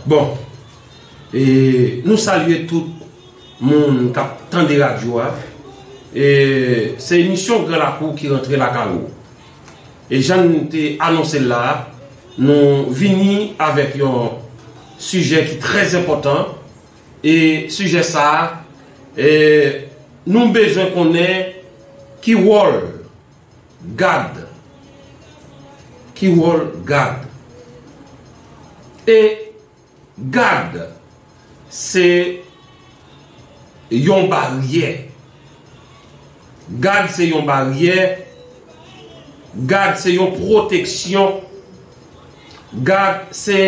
Bon e nou salye tout moun kap tande radyo a e se emisyon gran lakou ki rantre lakay ou e jan nou te anonse la nou vini avèk yon sijè ki trèzenpòtan e sijè sa a e nou bezwen konnen ki wòl gad ki wòl gad e gad se yon baryè gad se yon baryè gad se yon pwoteksyon gad se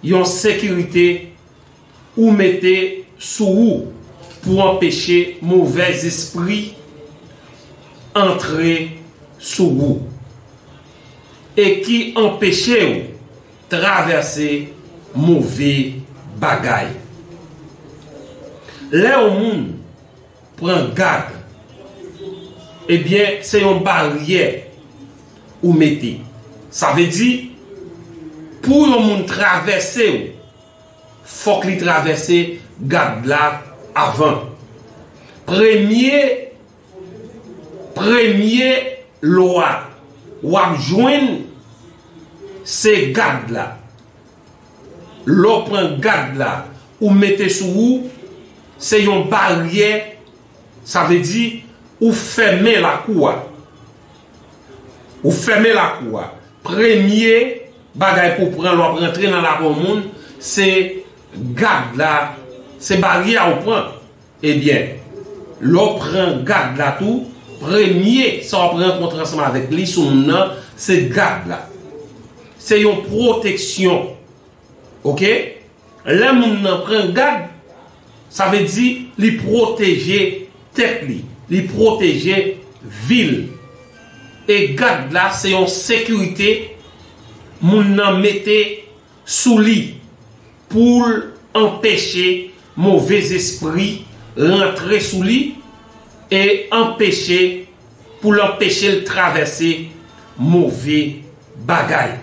yon sekirite ou mete sou ou pou anpeche movè zespri antre sou ou e ki anpeche ou travèse move bagay. Lè yon moun pran gad, ebyen se yon baryè ou mete. Sa vle di pou yon moun travèse ou Fòk li travèse gad la avan. Premye premye lwa wap jwenn se gad la. Lè w pran gad la ou mete sou ou se yon baryè sa vle di ou fèmen lakou a. Ou fèmen lakou a. Premye bagay pou pran lè w ap rantre nan lakou yon moun, se gad la, se baryè a ou pran. Ebyen, lè w pran gad la tou, premye sa w ap rankontre ansanm avèk li sou moun nan, se gad la. Se yon pwoteksyon. Ok lè moun nan pran gad sa vle di li pwoteje tèt li li pwoteje vil e gad la se yon sekirite moun nan mete sou li poul anpeche move zespri rantre sou li e anpeche poul anpechel travèse move bagay.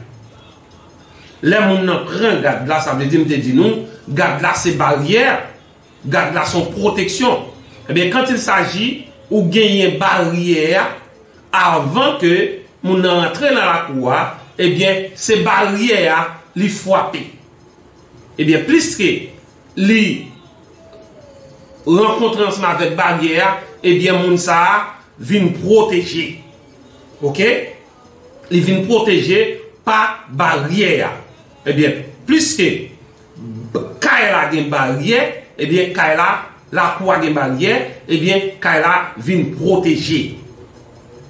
Lè moun nan pran gad la, sa vle di m te di nou, gad la se baryè, gad la se yon pwoteksyon. Ebyen, quand il s'agit, ou genyen baryè a, avan ke moun nan rantre nan lakou a, ebyen, se baryè a li fwape. Ebyen, pliske li rankontre ansanm avèk baryè a, ebyen moun sa a vin pwoteje. Ok? li vin pwoteje pa baryè a ebyen pliske kay la gen baryè ebyen kay la lakou a gen baryè ebyen kay la vin pwoteje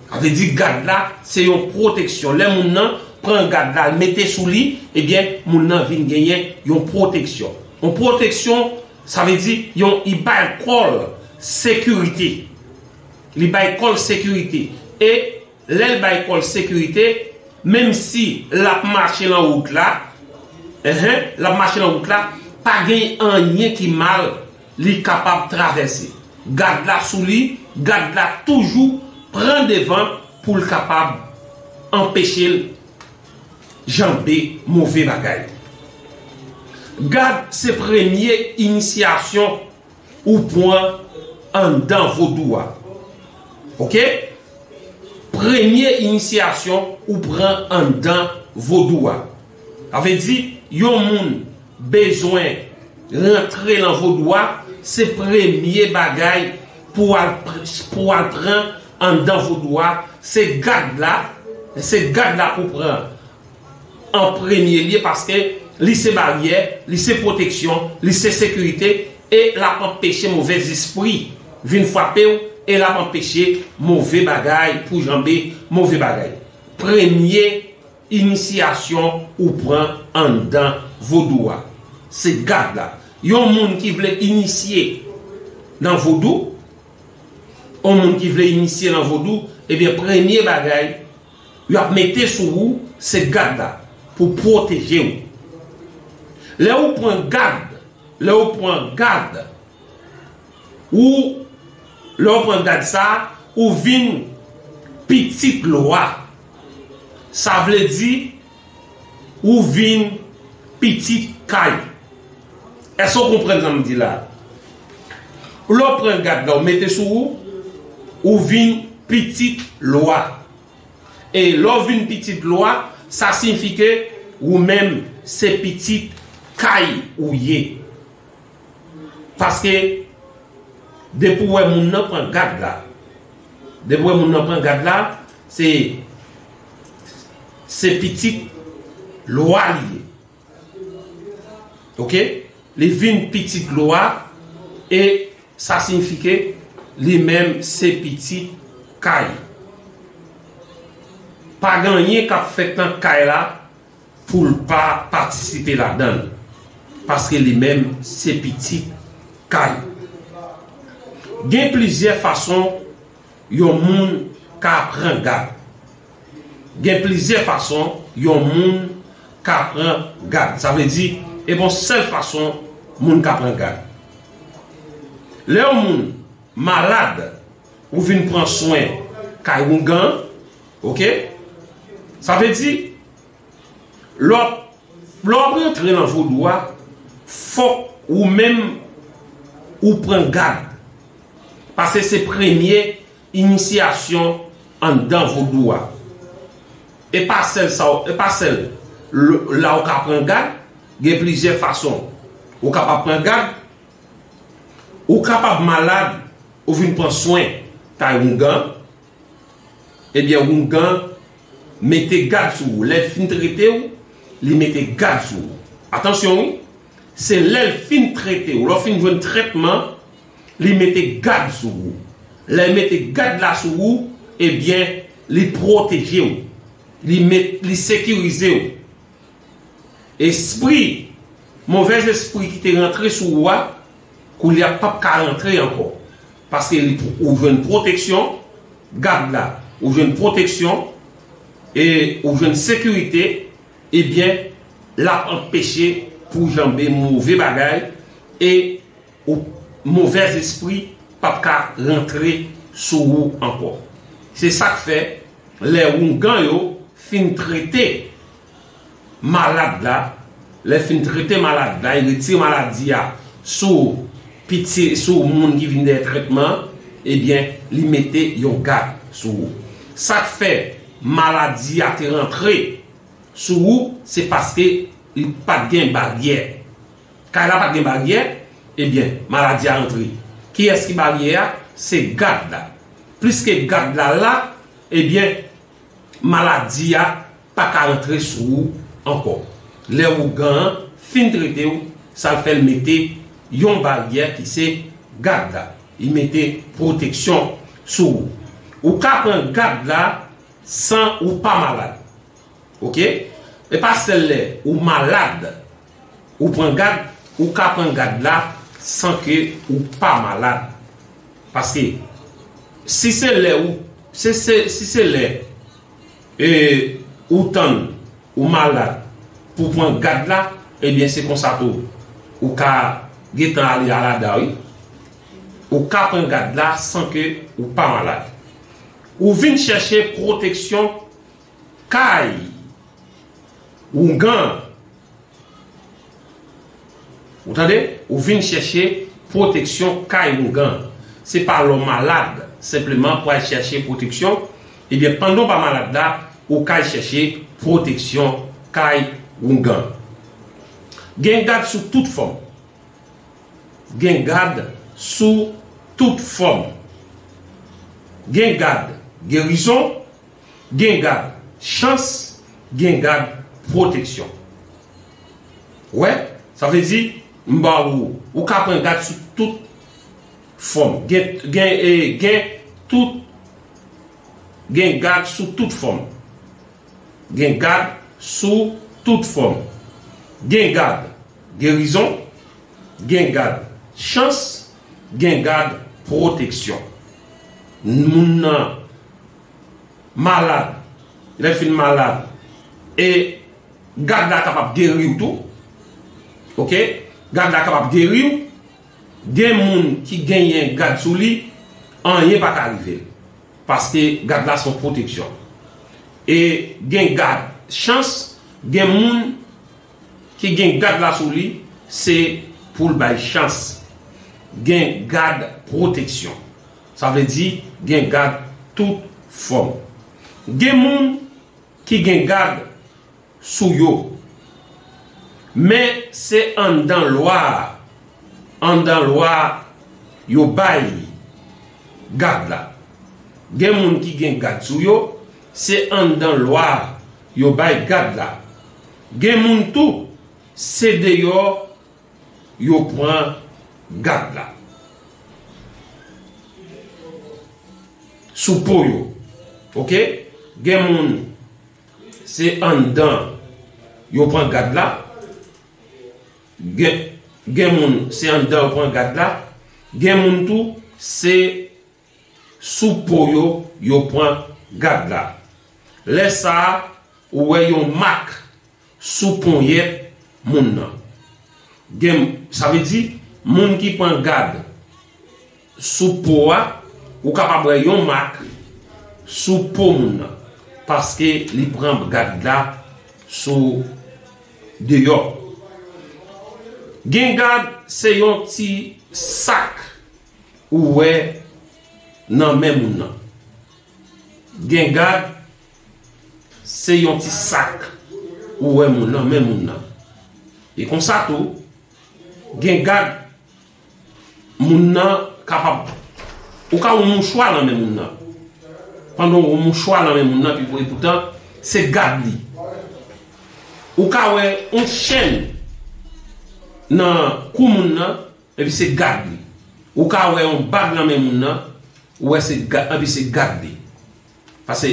sa vle di gad la se yon pwoteksyon lè moun nan pran gad la l mete sou li ebyen moun nan vin genyen yon pwoteksyon yon pwoteksyon sa vle di yon li bay kò l sekirite li bay kò l sekirite e Lè l bay kò l sekirite, menm si l ap mache lan wout la, ehe, l ap mache lan wout la, pa gen anyen ki mal, li kapab travèse. Gad la sou li, gad la toujou pran devan pou l kapab anpeche l janbe move bagay. Gad se premye inisyasyon. ou pwan anndan vodou a ok premye inisyasyon ou pran anndan vodou a sa vle di yon moun bezwen rantre lan vodou a se premye bagay pou wal pou wal pran anndan vodou a se gad la se gad la pou pran. an premye lye paske li se baryè, li se pwoteksyon, li se sekirite e l ap anpeche move zespri vin frape w e l ap anpeche move bagay pou janbe move bagay. Premye inisyasyon ou pran anndan vodou a se gad la. Yon moun ki vle inisye nan vodou, yon moun ki vle inisye nan vodou, ebyen premye bagay, Yo ap mete sou ou se gad la pou pwoteje ou. Lè ou pran gad, lè ou pran gad ou, lè ou pran gad sa, ou vin pitit lwa. Sa vle di. Ou vin pitit kay. Èske ou konprann sa m di la? Lè w pran gad la, ou mete sou ou, ou vin pitit lwa. E lè w vin pitit lwa, sa siyifi ke ou menm se pitit kay ou ye. Paske depi w wè moun nan pran gad la, depi w wè moun nan pran gad la, se se pitit lwa li ye. Ok? Li vin pitit lwa e sa siyifi ke li menm se pitit kay. Pa gen anyen k ap fèt nan kay la. poul pa patisipe ladanl paske li menm se pitit kay gen plizyè fason yon moun ka pran gad gen plizyè fason yon moun ka pran gad sa vle di e gon sèl fason moun ka pran gad lè yon moun malad. Ou vin pran swen kay oungan ok sa vle di lè wap rantre nan vodou a fòk ou menm ou pran gad pase se premye inisyasyon anndan vodou a e pa sèl sa e pa sèl la ou ka pran gad gen plizyè fason ou kapab pran gad Ou kapab malad ou vin pran swen kay oungan, ebyen oungan mete gad sou ou, lè l fin trete w, li mete gad sou ou. Atansyon wi, se lè l fin trete w, lè w fin jwenn trètman, li mete gad sou ou. Lè l mete gad la sou ou, ebyen li pwoteje w, li sekirize w. Espri, movèz espri ki te rantre sou ou a, koulye a pap ka rantre ankò. Paske li ou jwenn pwoteksyon, gad la, ou jwenn pwoteksyon, e ou jwenn sekirite, ebyen, lap anpeche pou janbe move bagay, e Ou movèz espri pap ka rantre sou ou ankò. Se sak fè lè oungan yo fin trete malad la, lè fin trete malad la e retire maladi a sou piti sou moun ki vin dèyè trètman an, ebyen li mete yon gad sou ou. Sak fè maladi a te rantre sou ou se paske li pat gen baryè. Kay la pat gen baryè ebyen maladi a antre kiyès ki baryè a se gad la pliske gad la la ebyen maladi a paka antre sou ou ankò lè ougan an fin trete ou sal fèl mete yon baryè ki se gad la li mete pwoteksyon sou ou ou ka pran gad la san ou pa malad ok epa sèl lè ou malad Ou pran gad, ou ka pran gad la san ke ou pa malad. Paske si se lè ou, se se, si se lè e ou tann ou malad pou pran gad la, ebyen se konsa tou ou ka gentan ale alada wi. Ou ka pran gad la san ke ou pa malad. Ou vin chèche pwoteksyon. Kay ougan ou tande ou vin chèche pwoteksyon kay ougan se pa lè w malad senpleman pou al chèche pwoteksyon ebyen pandan w pa malad la ou ka al chèche pwoteksyon kay ougan gen gad sou tout fòm gen gad sou tout fòm gen gad gerizon Gen gad chans, gen gad pwoteksyon. Ou wè? Sa vle di, m ba ou, ou ka pran gad sou tout fòm. Gen, gen, gen tout, gen gad sou tout fòm. Gen gad sou tout fòm. Gen gad gerizon, gen gad chans, gen gad pwoteksyon. Moun nan. malad, lè fin malad e gad la kapab geriw tou ok gad la kapab geriw gen moun ki genyen gad sou li anyen pa ka rivel paske gad la son pwoteksyon e gen gad chans gen moun ki gen gad la sou li se poul bay chans gen gad pwoteksyon. Sa vle di gen gad tout fòm. Gen moun ki gen gad sou yo. Men se anndan lwa a, anndan lwa a yo bay gad la. Gen moun ki gen gad sou yo, se anndan lwa a yo bay gad la. Gen moun tou se deyò Yo pran gad la. Sou po yo. Ok. Gen moun. Se andan. Yo pran gad la. Gen moun. Se andan yo pran gad la. Gen moun tou. Se. Sou po yo, yo pran gad la. Lè sa a, ou wè yon mak sou ponyèt moun nan. Gen, sa vle di, moun ki pran gad sou po a, ou kapab wè yon mak sou po moun nan, paske li pran gad la sou deyò. Gen gad, se yon ti sak ou wè nan men moun nan. Gen gad se yon ti sak ou wè moun nan men moun nan. E konsa tou, gen gad moun nan kapab ou ka wè yon mouchwa nan men moun nan. Pandan ou wè yon mouchwa nan men moun nan pi pou epoutan se gad li. Ou ka wè yon chèn nan kou moun nan Epi se gad li. Ou ka wè yon bag nan men moun nan, ou wè se gad, epi se gad li. Pase,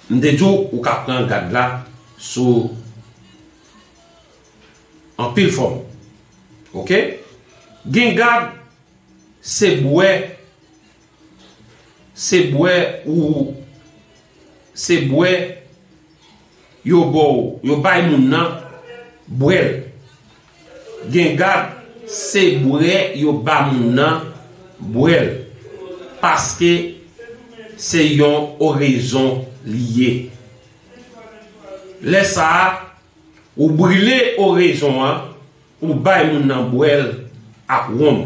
m te di w, ou ka pran gad la sou anpil fòm. Ok? Gen gad, se bwè. Se bwè ou se bwè yo ba w yo bay moun nan bwè l gen gad se bwè yo ba moun nan bwè l paske se yon orezon li ye lè sa a ou brile orezon an Ou bay moun nan bwèl ak wonm.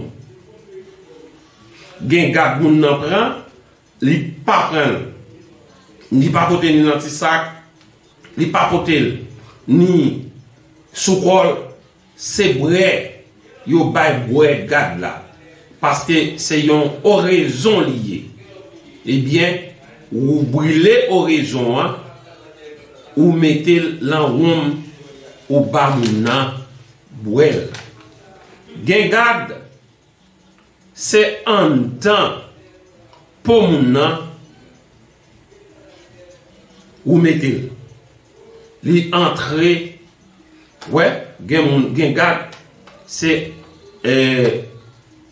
Gen gad moun nan pran, li pa pran l. Li pa pote ni nan ti sak, li pa pote l ni sou kò l. Se bwè yo bay bwè gad la, paske se yon orezon li ye. Ebyen, Ou brile orezon an ou mete l lan wonm ou ba moun nan bwè l. Gen gad se anndan po moun nan ou mete l. Li antre wè gen moun gen gad se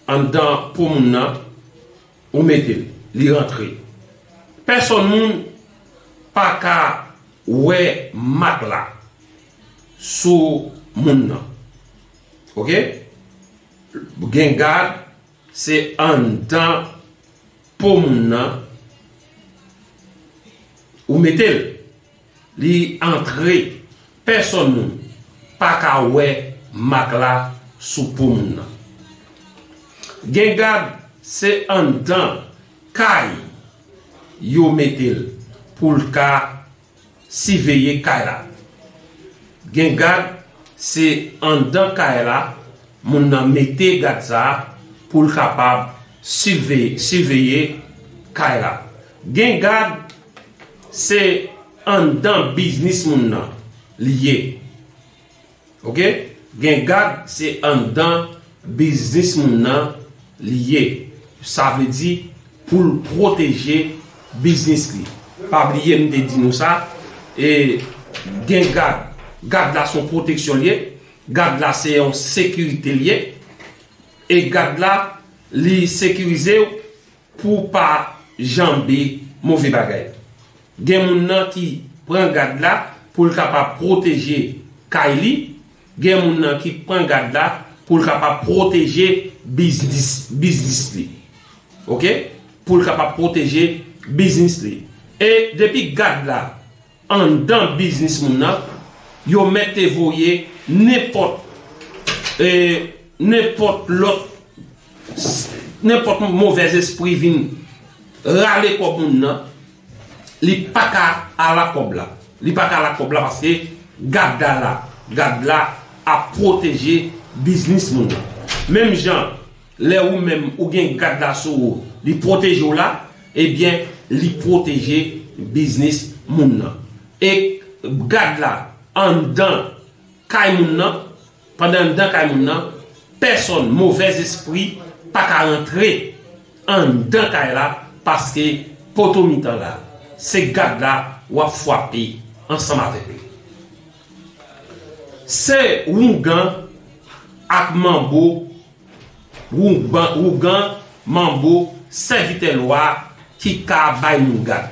anndan po moun nan Ou metel. Li rantre. Pèsòn moun paka wè mak la sou moun nan. Ok. Gen gad se anndan po moun nan ou metel. Li antre pèsòn moun paka wè mak la sou po moun nan. Gen gad se anndan kay yo mete l pou l ka siveye kay la. Gen gad se anndan kay la moun nan mete gad sa pou l kapab siveye kay la. Gen gad se anndan biznis moun nan li ye ok gen gad se anndan biznis moun nan li ye sa vle di poul pwoteje biznis li pa bliye m te di nou sa e gen gad gad la son pwoteksyon li ye gad la se yon sekirite li ye e gad la li sekirize w. Pou w pa janbe move bagay. Gen moun nan ki pran gad la pou l kapab pwoteje kay li, gen moun nan ki pran gad la pou l kapab pwoteje biznis biznis li. Ok. Pou l kapab pwoteje biznis li. E depi gad la. anndan biznis moun nan, yo mète voye nenpòt e nenpòt lòt nenpòt movèzespri vin rale kòb moun nan, li paka ala kòb la, li paka ala kòb la paske gad la la, gad la ap pwoteje biznis moun nan. Menm jan. Lè ou menm ou gen gad la sou ou li pwoteje w la ebyen li pwoteje biznis moun nan e gad la anndan kay moun nan pandan anndan kay moun nan pèsòn movèz espri pa ka rantre anndan kay la paske poto mitan la se gad la w ap fwape ansanm avèk li se oungan ak manbo Wougan, manbo, sèvitè lwa ki ka bay moun gad.